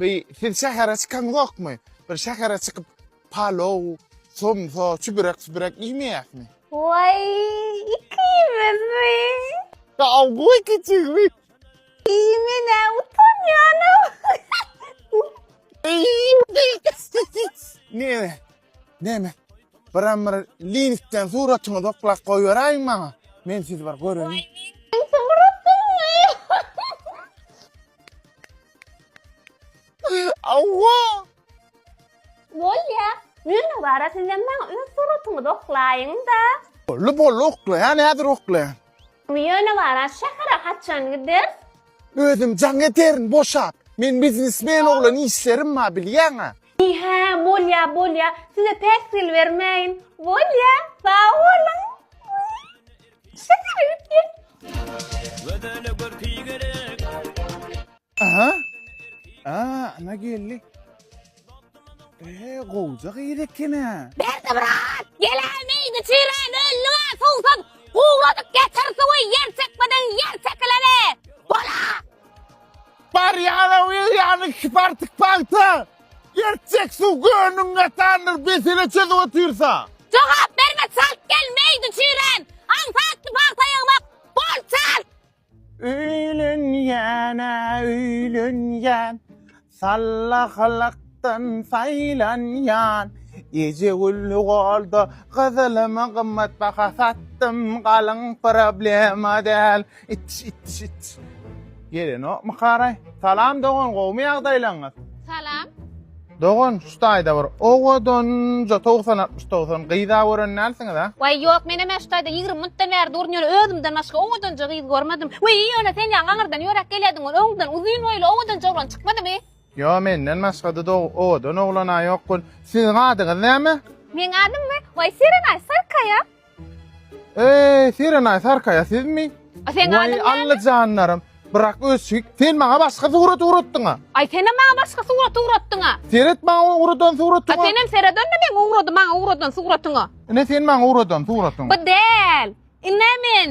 Bi siz şähere çykaňzokmy? Bir şähere çykyp palow, somsa, çübürek sübürek iýmeýäsmi? Waý, ikimizmi? Ya goý kiçigimi. Iý menä utanýanym. Neme? Neme? Biram bir linkden suratyňy doklap goýberäýiň maňa. Men sizi bir göreýin. Awwa! Bolýa. Ýöne wara sizem maňa öz suratyňyzy oklaýyň-da. Bolly bolly oklaýan häzir oklaýan. Ýöne wara şähere haçan gideris? Özüm jaň ederin boşap. Men biznesmen oglan işlerim bar bilýäňä. Iý hä bolýa bolýa size päsgel bermäýin. Bolýa sag boluň. Aha. Aa, ana geldi. Ee, gowja gyz ekene. Berdi brat, gelämi, içirän ölli bar, suwsuz, gowradyk getir suwy, ýer çekmeden ýer çekilene. Bola. Barýana, berýana, iki partyk pagta. Gerçek suw göwnüň gatandyr besele çözüp otyrsa. Jogap berme çalt gel meýdi çüýrän aňsatly pagta ýygmak bol çalt. Öýlenýän-ä öýlenýän sallahlykdan saýlanýan eje gül golda gyzylymy gymmat baha satdym galyň problema däl Ittiş ittiş ittiş. Gelenokmy karaý? Salam dogan gowmy ýagdaýlaňyz? Salam. Dogan şu taýda bir owadanja togsan altmyş togsan gyza gören dälsiňiz a? Waý ýok men hemen şu taýda ýigrimi minutdan bäri durun ýöne özümden başga owadanja gyz görmedim. Wiý ýöne sen ýaňy aňyrdan ýöräp gelýärdiň ol öňden uzyn boýly owadanja oglan çykmadymy? Ýo menden başgada dog owadan oglan a ýok gun. Siziň adyňyz näme? Meň adymmy? Waý serenaý sarkaýa. Eý, Serenaý Sarkaýa sizmi? A seň Waý, adyň näme? Allajanlarym, brak öşik, sen maňa başga surat ugratdyň-a. Aý, senem maňa başga surat ugratdyň-a. Seret maňa ugradan A suratyňa. senem seredende meň ugrady maňa ugradan suratyňa. Ine, sen maňa ugradan suratyňa. Bu däl. Ine men.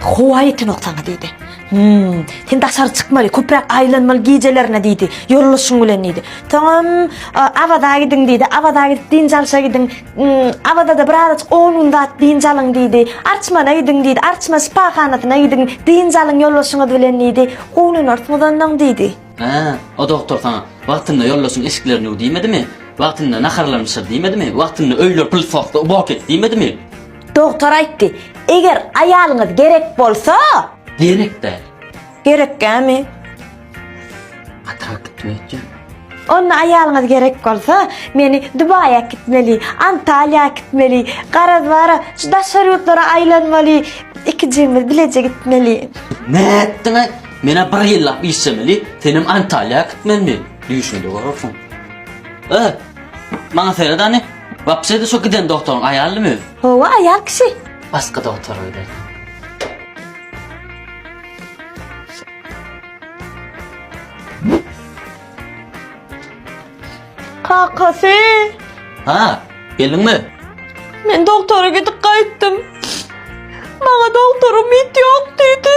Howa ýetenok saňa diýdi. Hümm, sen daşary çykmaly, köpräk aýlanmaly gijelerine diýdi. Ýoldaşyň bilen diýdi. Soňam Awaza gidiň diýdi. Awaza gidip dynç alşa gidiň. Awazada bir azajyk on gün zat dynç alyň diýdi. Arçmana gidiň diýdi. Arçman şypahanasyna gidiň. Dynç alyň ýoldaşyňyz bilen diýdi. Guwanarsyňyz onnoň diýdi. Hä, o dogtor saňa wagtynda ýoldaşyň eşiklerini ýuw diýmedimi? Wagtynda naharlaryny bişir diýmedimi? Wagtynda öýler pylsy ostda ubok et diýmedimi? Dogtar aýtdy, eger aýalyňyz gerek bolsa. Gerek däl. Gerek gämi? Atrak gitme etjek. Onda aýalyňyz gerek bolsa, meni Dubaýa kitmeli, Antalýa kitmeli, garaz bara şu daşary ýurtlara aýlanmaly, ikijigimiz bileje gitmeli. Nätdiňä? Menä bir ýyllap işlemeli, senem Antalýa kitmelimi? Düýşünde görersiň. Öh! Maňa seret hany? Wapşede şo giden doktoryň aýalymy öz? Howa aýal kişi. Başga doktor öýde. Kakasy. Ha, geldiňmi? Men doktora gidip gaýtdym. Maňa doktoryň mit ýok diýdi.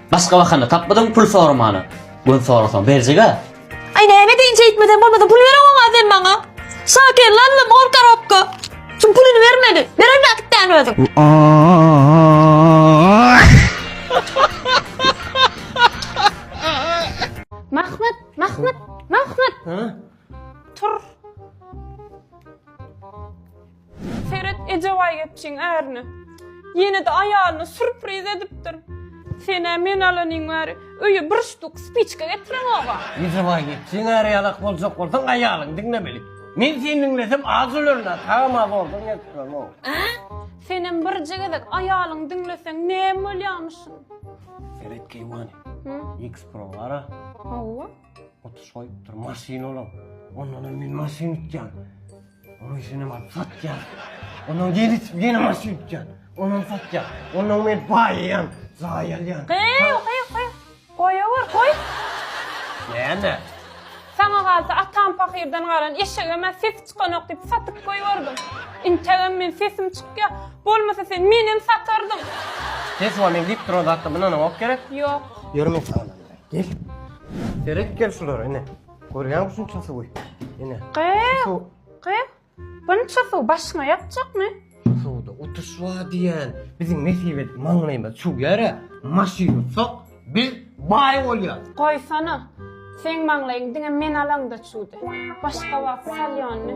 Başga bahana tapmadyň pul soramana. Gün sorasaň berjega. Ay näme deyin çeýtmeden bolmasa pul beren oňa sen maňa. Şaker lan lan ol karapka. Şu pulunu bermedi. Beren vakitten özün. Mahmut, Mahmut, Mahmut. Tur. Seret eje baýgepçiň ärine. Ýene-de aýalyna surpriz edipdir. Sen-ä men alanyň bäri öýe bir ştuk spiçka getireňog-a. Eje baýgepçiň äri ýalak boljak bolsaň aýalyňy diňlemeli. Men seni diňlesem az ölerin-ä, sagam-a zordan gelip duramok. Ä? Senem birje gezek aýalyňy diňleseň näme bolýamyşyn? Seret keýwany. X-Pro bar-a. Hawa. Otuş goýup dur, maşyn olam. Ondan hem men maşyn ütýän. Onuň işini hem alyp satýan. Ondan gel içip ýene maşyn ütýän. Ondan satýan. Ondan men baýýan, jaý alýan. Gyýw, gyýw, gyýw. Goýawur, goý. Näme? Saňa galsa atam pahyrdan galan eşegem ä sesi çykanok diýip satyp goýberdim. Integem men sesim çykýa. Bolmasa sen menem satardym. Ses wa men diýip duran zatda mundanam ok gerek? Ýok. Ýör men saňa name berýän. Gel. Seret gel şulara ene. Görýäňmi şunça suwy? Ene. Gyz, Şu gyz. Bunça suw başyňa ýakjakmy? şu suwda utuş bar diýen. Biziň nesibet maňlaýymyz çuw ýere maşyn uçsak biz baý bolýas. Goýsana. Seň maňlaýyň diňe men alaňda çuwdy. Başga wagt salýondy.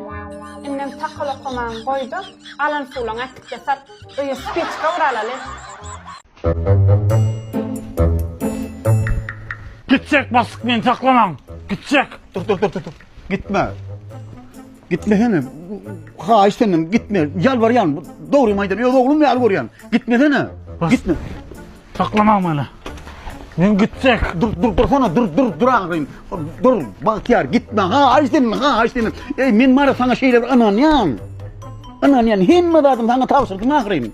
Indem takalokamagyňy goý-da, alan suwlaňy äkit-de sat. Öýe spiçka uralaly. Gitjek bassyk meni saklamaň. Gitjek. Dur dur dur dur. dur. Gitme. Gitmesene. Haýyş senden gitme. Ýalbarýan. Dogrymy aýdan. Öz oglum ýaly görýän. Gitmesene. Bas. Gitme. Saklamaň meni. Men gitjek. Dur dur dursana. Dur dur dur agyryn. Dur bagtyýar gitme. Haýyş senden. Haýyş senden. Ey men mara sana şeýle bir ynanýan. Ynanýan hemme zadymy sana tabşyrdym agyryn.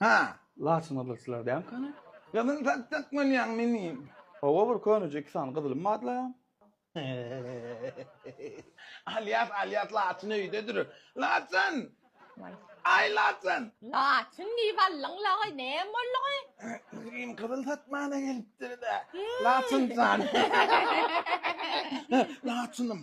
Ha. Laçyn gyzylçylar däl kany. Gyzyl satjak bolýaň menim. Hawa bir köneje iki sany gyzylym bar la. Alýas alýas laçyn öýde dur. Laçyn! Aý laçyn! Laçyn diýip aldyň laý näme boldugy? Gülgim gyzyl satmana gelipdir-dä. Laçyn jan. Laçynym.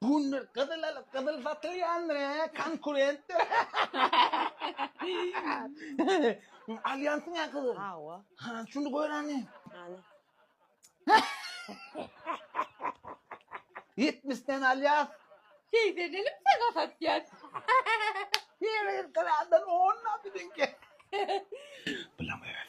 Gündüz gyzyl alyp gyzyl satylýandyr he, konkurentdir. Alýansyň he gyzyl. Hawa. Ha, şuny göräni. Hany. 70 den alýas. Seýsenelim sana satýas. Ýeri gyrkyrardan ondan biziňki. Bilemeyäs.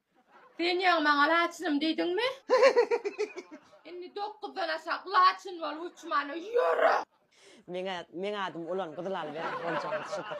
Sen ýaňy maňa laçynym diýdiňmi? Indi dokuzdan aşak laçyn bolup uçmana ýöre! Meň adym Ulan gyzyl alyberin boljagyň şudur.